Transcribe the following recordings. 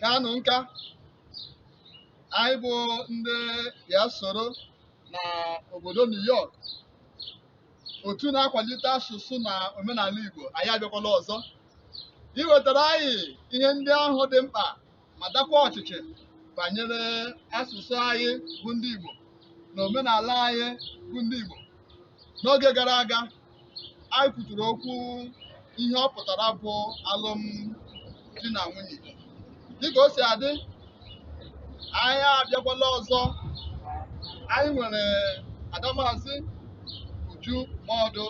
kanụ nka anyị bụ ndị ya soro na obodo New York otu na-akwalite asụsụ na omenala Igbo anyị abịakwala ọzọ iwetara anyị ihe ndị ahụ dị mkpa ma dakwa ọchịchị banyere asụsụ anyị bụ ndị Igbo na omenala anyị bụ ndị Igbo n'oge gara aga anyị kwuturu okwu ihe ọ pụtara bụ alụmdi na nwunye dịka o si adị anyị abịakwala ọzọ anyị nwere adamazi uju maọdụ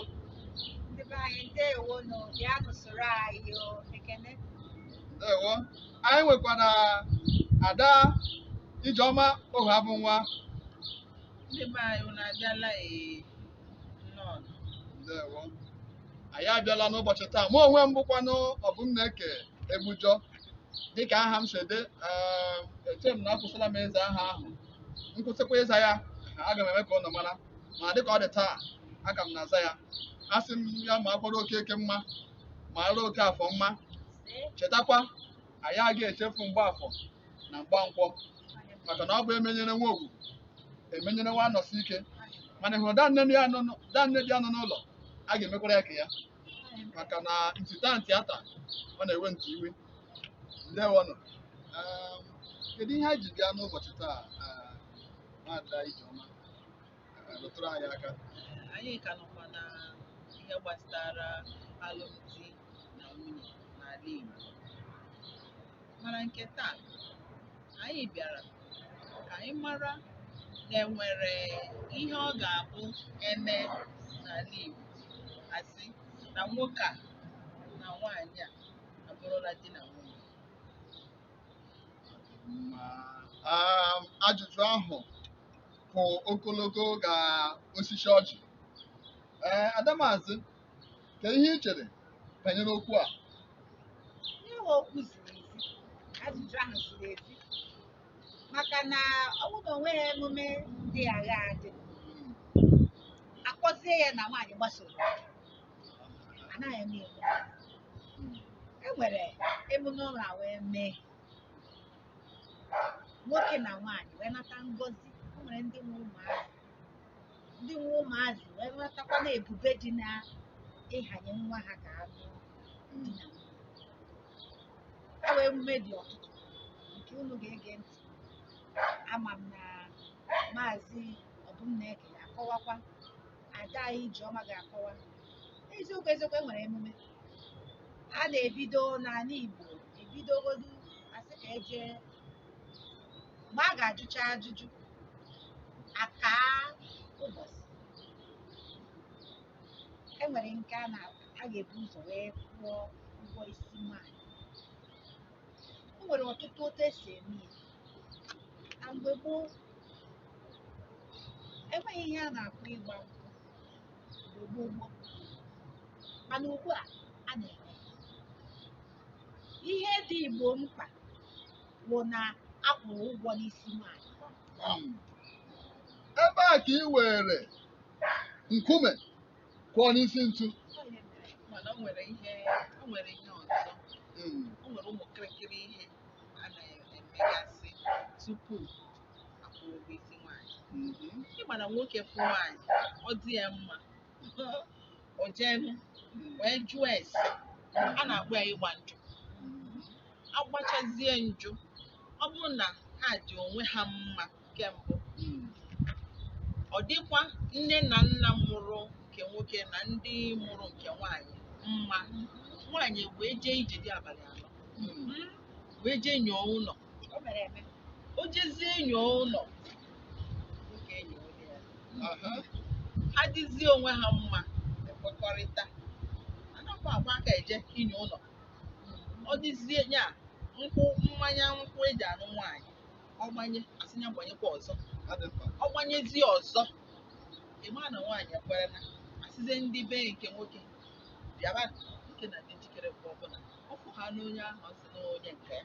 Ndị be anyị ndewo nụ bịanụ soro anyị o ekene ndewo anyị nwekwara ada ijeọma ohuabụnwa Ndị be anyị unu abịala ee ndewo anyị abịala n'ụbọchị taa mụ onwe m bụkwanụ ọbụmneke egbujọ dịka aha m si dị ee, eche m na akwụsịla m ịza aha ahụ m kwụsịkwa ịza ya aga m eme ka unu mara ma dịka ọ dị taa aga m na-aza ya asị m ya makwara okeke mma mara okeafọ mma chetakwa anyị agaghị echefu mgbafọ na mgbankwọ maka na ọ bụ emenyere nwa ogwugwu emenyere nwa anọsike mana ịhụrụ danne dị anọ n'ụ- danne dị anọ n'ụlọ a ga-emekwara ya nke ya maka na nti taa nti ata ọ na-ewe nti iwe ndewonụ Um, kedu ihe anyị ji bịa n'ụbọchị taa ah, nwaada ijeọma rụtụrụ anyị aka anyị ka nọkwa na ihe gbasara alụmdi na nwunye n'ala Igbo mana nke taa anyị bịara ka anyị mara na enwere ihe ọ ga-abụ e mee n'ala Igbo a sị na nwoke a na nwaanyị a abụrụla di na nwunye ma um, ajụjụ ahụ kwụ ogologo ka osisi ọjị ee adamazị ka ihe ị chere banyere okwu a ihe bụ okwu ziri ezi ajụjụ ahụ ziri ezi maka na ọ bụrụ na o nweghị emume dị agha adị a kpọzie ya na nwaanyị gbasoro ya, anaghị eme ya e nwere emume ụlọ wee mee nwoke na nwaanyị wee nata ngọzi o nwere ndị nwe ụmụazị ndị nwe ụmụazị wee natakwa na ebube dị na ịhanye nwa ha ka anụ di na nwunye e nwere emume dị ọtụtụ nke unu ga-ege ntị ama m na maazị ọbụmneke ga-akọwakwa ada anyị ijeọma ga-akọwa eziokwu eziokwu e nwere emume a na-ebido n'ala Igbo ebidogodu asị ka eje mgbe a ga-ajụcha ajụjụ akaa ụbọchị e nwere nke a ga-ebu ụzọ wee kwụọ ụgwọ isi nwaanyị o nwere ọtụtụ otu esi eme ya na mgbe gboo enweghị ihe a na-akpọ ịgba nkwụ mgbe gboo gboo mana ugbu a a na-eme ihe dị igbo mkpa bụ na a kwụrụ ụgwọ n'isi nwaanyị ebe a ka i were nkume kụọ n'isi ntu mana o nwere ihe o nwere ihe ọzọ Mm. o nwere ụmụ kịrịkịrị ihe a na-emegasị tupu akwụrụ ụgwọ isi nwaanyị mhm. ịma na nwoke fụ nwaanyị ọ dị ya mma o jeenụ wee jụọ ese a na-akpọ ya ịgba njụ agbachazie njụ ọ bụrụ na ha dị onwe ha mma ke mbụ ọ dịkwa nne na nna mụrụ nke nwoke na ndị mụrụ nke nwaanyị mma nwaanyị wee jee ije di abalị anọ wee jee nyoo ụlọ o mere eme o jezie inyo ụlọ oge enyo ụlọ ya Aha. ha dịzie onwe ha mma ekwekọrịta anakwa agba aka eje inyo ụlọ ọ dịzie nya mmanya nkwụ eji anụ nwaanyị ọ gbanye asị ya gbanyekwa ọzọ Ha dị mkpa. ọ gbanyezie ọzọ ịma na nwaanyị ekwerena asịzie ndị be nke nwoke bịaba nke na dị njikere mgbe ọbụla ọ fụ ha n'onye ahụ ọ sị na onye nke ya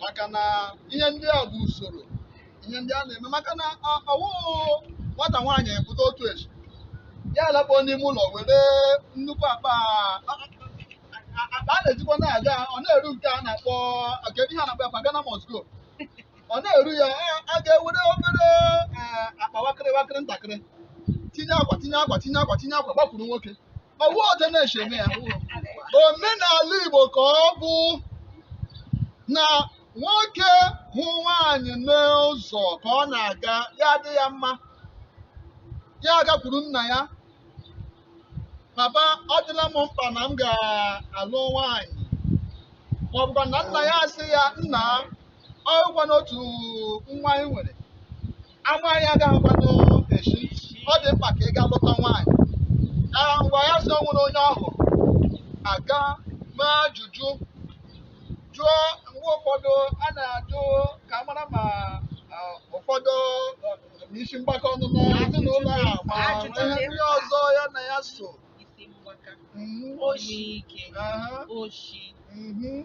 maka na ihe ndị a bụ usoro ihe ndị a na-eme maka na ọ- ọwụụ nwata nwaanyị pụta otu echi ya alakpuo n'ime ụlọ were nnukwu akpa akpa a na-ejikwa na-aga ọ na-eru nke a na-akpọ kedu ihe a na-akpọ ya akpa Ghana must go ọ na-eru ya a- a ga-ewere obere eh, akpa wakịrị wakịrị ntakịrị tinye akwa tinye akwa tinye akwa tinye akwa gbakwuru nwoke ọwụ otu a na-esi eme ya omenala Igbo ka ọ bụ na nwoke hụ nwaanyị n'ụzọ ka ọ na-aga ya adị ya mma ya agakwuru nna ya papa ọ dịla m mkpa na m ga-alụ nwaanyị ma ọ bụkwa na nna ya asị ya nna ọ bụkwa n'otu nwa anyị nwere ama anyị agaghịkwanụ echi ọ dị mkpa ka ị gaa lụta nwaanyị ngwa ya sị o nwere onye ọ hụrụ a gaa mee ajụjụ jụọ mgbe ụfọdụ a na-ajụ ka a mara ma ah, ụfọdụ ah, ma isi mgbaka ọ nọ na ezinụlọ a ma Ajụjụ ihe dị ndị mkpa. ọzọ ya na ya so isi mgbaka Mhm, oshi ike aha, oshi mhm.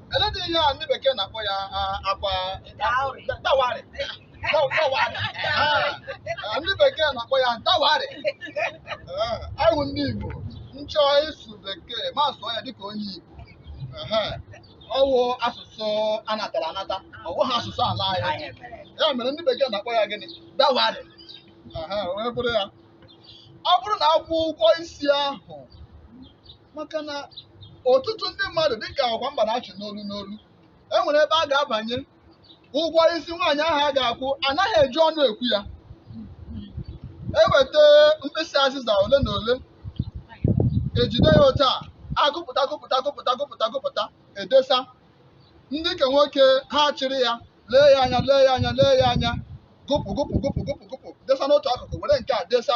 Eledị ihe a ndị bekee na-akpọ ya ah, ọkwa Dowry. da- dawari. Da- dawari. Ah, ah, Ndị bekee na-akpọ ya dawari. Ah, Anyị bụ ndị Igbo m chọọ ịsụ bekee m asụọ ya dịka onye Igbo. Ehe. Ọ wụ asụsụ a natara anata, ọ bụghị asụsụ ala anyị. Anyị mere. ya mere ndị bekee na-akpọ ya gịnị dawari Aha, o wee bụrụ ya ọ bụrụ na akwụọ ụgwọ isi ahụ maka na ọtụtụ ndị mmadụ dịka ọkwa mba na-achị n'olu n'olu e nwere ebe a ga-abanye ụgwọ isi nwaanyị ahụ a ga-akwụ anaghị eji ọnụ ekwu ya eweta mkpịsị azịza ole na ole ejide ya otu a agụpụta gụpụta gụpụta gụpụta gụpụta edesa ndị nke nwoke ha achịrị ya lee ya anya lee ya anya lee ya anya gụpụ gụpụ gụpụ gụpụ gụpụ desa n'otu akụkụ were nke a desa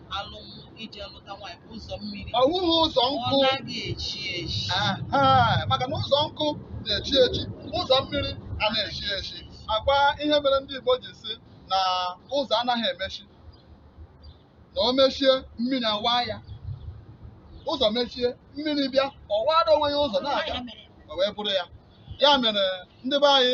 ụzọ eji alụta nwaanyị bụ ụzọ mmiri ọ wụghị ụzọ nkụ ọ naghị echi echi Aha, maka na ụzọ nkụ na-echi echi ụzọ mmiri anaghị echi echi ọkwa ihe mere ndị Igbo ji sị na ụzọ anaghị emechi na o mechie mmiri awaa ya ụzọ mechie mmiri bịa ọ waara onwe ya ụzọ na-aga o wee bụrụ ya ya mere ndị be anyị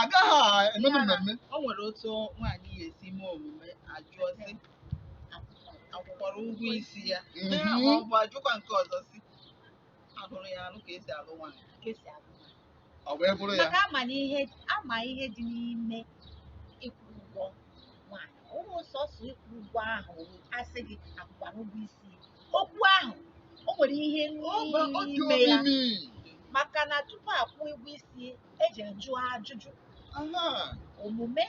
agaghị emenụ mmemme o nwere otu nwaanyị ya esi mee omume ajụọ sị akwụkwara ụgwọ isi ya Mhm. ma ọ bụ ajụkwa nke ọzọ sị alụrụ ya alụ ka esi alụ nwaanyị ka esi alụ nwaanyị. o wee bụrụ ya maka ama na ihe ama ihe dị n'ime ịkwụ ụgwọ nwaanyị ọ wụghị sọsọ ịkwụ ụgwọ ahụ asị gị akwụkwara ụgwọ isi okwu ahụ o nwere ihe Ọ bụ- ọ dị n'ime ya omimi maka na tupu akwụọ ụgwọ isi eji ajụ ajụjụ Aha. omume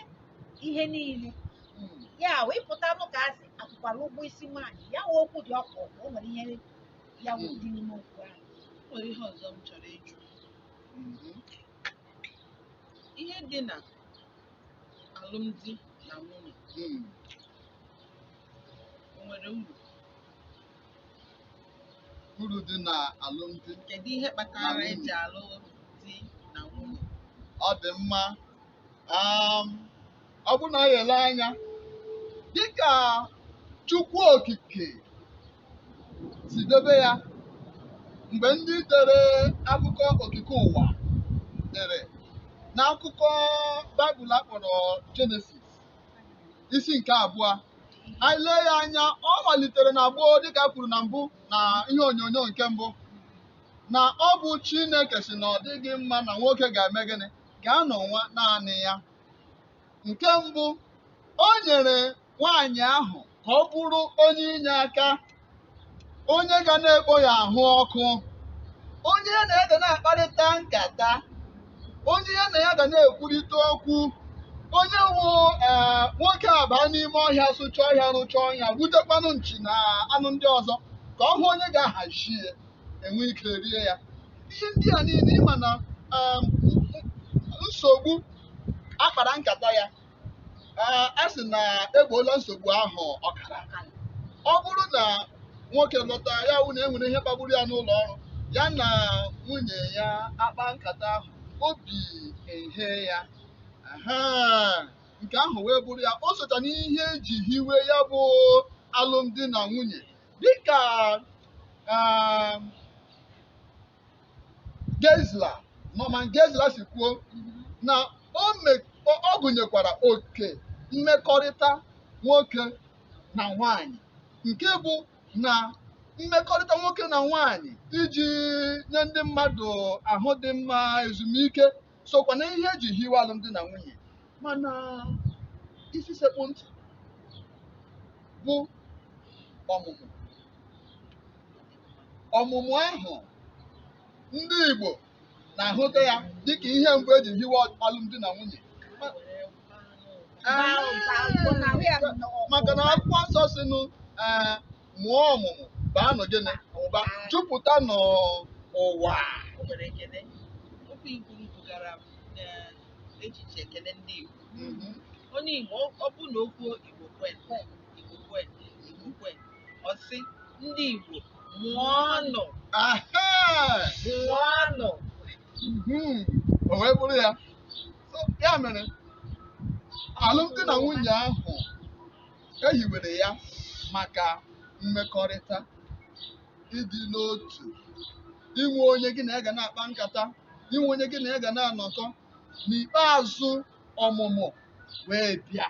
ihe niile Mm. ya wụ ị pụta nụ ka asị akwụkwara ụgwọ isi nwaanyị ya wụ okwu dị ọkụ ọkụ o nwere ihe ya wụ dị n'ime okwu ahụ O nwere ihe ọzọ m chọrọ ịjụ Mhm. ihe dị na alụmdi na nwunye Mm. o nwere uru uru dị na alụmdi kedu ihe kpatara eji alụ di na nwunye ọ dị mma um, ọ bụrụ na anyị elee anya dịka Chukwu Okike si debe ya mgbe ndị dere akụkọ okike ụwa dere n'akụkọ Baịbụl akpọrọ Jenesis isi nke abụọ anyị lee ya anya ọ malitere na gboo dịka kwuru na mbụ na ihe onyonyo nke mbụ na ọ bụ Chineke sị na ọ dịghị mma na nwoke ga-eme gịnị ga-anọ nwa naanị ya nke mbụ o nyere nwaanyị ahụ ka ọ bụrụ onye inye aka onye ga na-ekpo ya ahụ ọkụ onye ya na ya ga na-akparịta nkata onye ya na ya ga na-ekwurịta okwu onye wụ ee nwoke a baa n'ime ọhịa sụcha ọhịa rụcha ọnya gbutekwanụ nchi na anụ ndị ọzọ ka ọ hụ onye ga-ahazi ya enwe ike rie ya ihe ndị a niile ị ma na em, nsogbu akpara nkata ya a sị na egboola nsogbu ahụ ọkara ọ bụrụ na nwoke lọta ya wụ na enwere ihe kpagburu ya n'ụlọ ọrụ ya na nwunye ya akpa nkata ahụ obi ehe ya aha nke ahụ wee bụrụ ya o socha n'ihe eji hiwe ya bụ alụmdi na nwunye dịka ah, Geisler Norman Geisler si kwuo na o me- o- ọ gụnyekwara oke mmekọrịta nwoke na nwaanyị nke bụ na mmekọrịta nwoke na nwaanyị iji nye ndị mmadụ ahụ dị mma ezumike sokwa na ihe eji hiwe alụmdi na nwunye mana isi sekpụ ntị bụ ọmụmụ ọmụmụ ahụ ndị Igbo na-ahụta ya dịka ihe mbụ eji hiwe alụmdi na nwunye maka na akwụkwọ nsọ sị nụ ee mụọ ọmụmụ baanụ gịnị ụba jupụta n'ụwa O nwere ekele. Okwu i kwuru bugara m n'echiche ekele ndị Igbo. Mhm. Onye Igbo, ọ- ọ bụ na o kwuo Igbo kwe, Igbo kwe Igbo kwe ọ sị ndị Igbo mụọnụ Aha! mụọnụ Mhm. O wee bụrụ ya. So, ya mere alụmdi na nwunye ahụ ehiwere ya maka mmekọrịta ịdị n'otu inwe onye gị na ya ga na-akpa nkata inwe onye gị na ya ga na-anọkọ n'ikpeazụ ọmụmụ wee bịa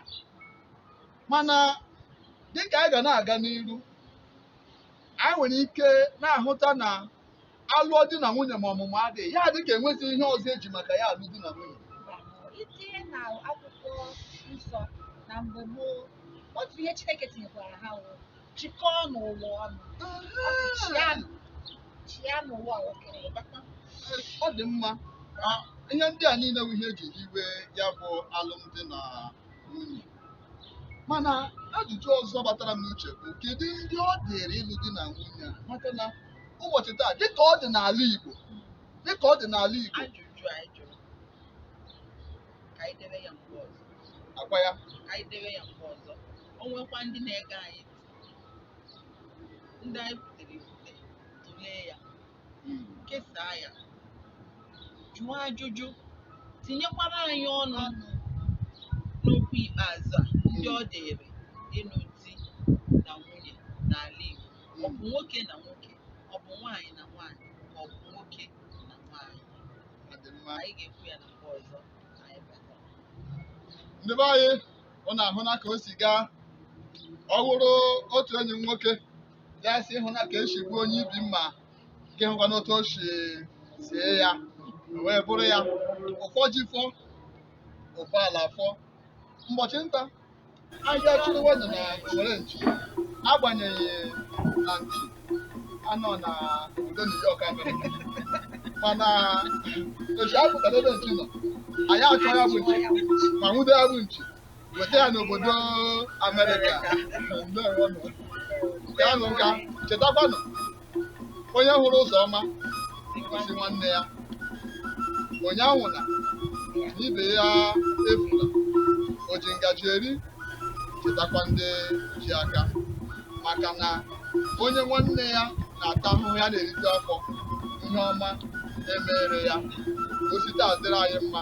mana dịka anyị ga na-aga n'iru anyị nwere ike na-ahụta na alụọ di na nwunye ma ọmụmụ adịghị ya dịka enwezi ihe ọzọ eji maka ya alụ di na nwunye itinye na akwụkwọ nsọ na mgbe gboo otu ihe Chineke tinyekwara ha wụ chịkọọnụ ụwa ọnụ chịanụ chịanụ ụwa o kere ọ dị mma Ah, ihe ndị a niile bụ ihe eji hiwe ya bụ alụmdi na nwunye mana ajụjụ ọzọ batara m n'uche bụ kedu ndị ọ dịrị ịlụ di na nwunye a maka na ụbọchị taa dịka ọ dị n'ala Igbo dịka ọ dị n'ala Igbo ọ kwa ya o nwekwa ndị na-ege anyị ndị anyị butere ibute tụlee ya kesaa ya jụọ ajụjụ tinyekwara anyị ọnụ n'okwu ikpeazụ a ndị ọ dịrị ịnụ di na nwunye n'ala Igbo ọ bụ nwoke na nwoke ọ bụ nwaanyị na nwaanyị ka ọ bụ nwoke na nwaanyị Ọ dị mma. anyị ga-ekwu ya na mgbe ọzọ anyị bata ndị be anyị unu ahụna ka o si gaa ọ wụrụ otu enyi m nwoke ya sị ị hụna ka esi gbuo onye ibi mma gị hụkwanụ otu o si sie ya wee bụrụ ya ụfọ ji fọ ụfọ ala fọ ụbọchị nta anyị achụrụwanụ na owere nchi agbanyeghị na nchi anọ na obodo New York Amerịka mana echi apụtara ebe nchi nọ anyị achọọ ya bụ nchi ma nwude ya bụ nchi weta ya n'obodo Amerịka nke ahụ nka chetakwanụ onye hụrụ ụzọ ọma gosi nwanne ya onye anwụna ibe ya efuna o ji ngaji eri chetakwa ndị ji aka maka na onye nwanne ya na-ata ahụhụ ya na-erite afọ ihe ọma emere ya o site adịrị anyị mma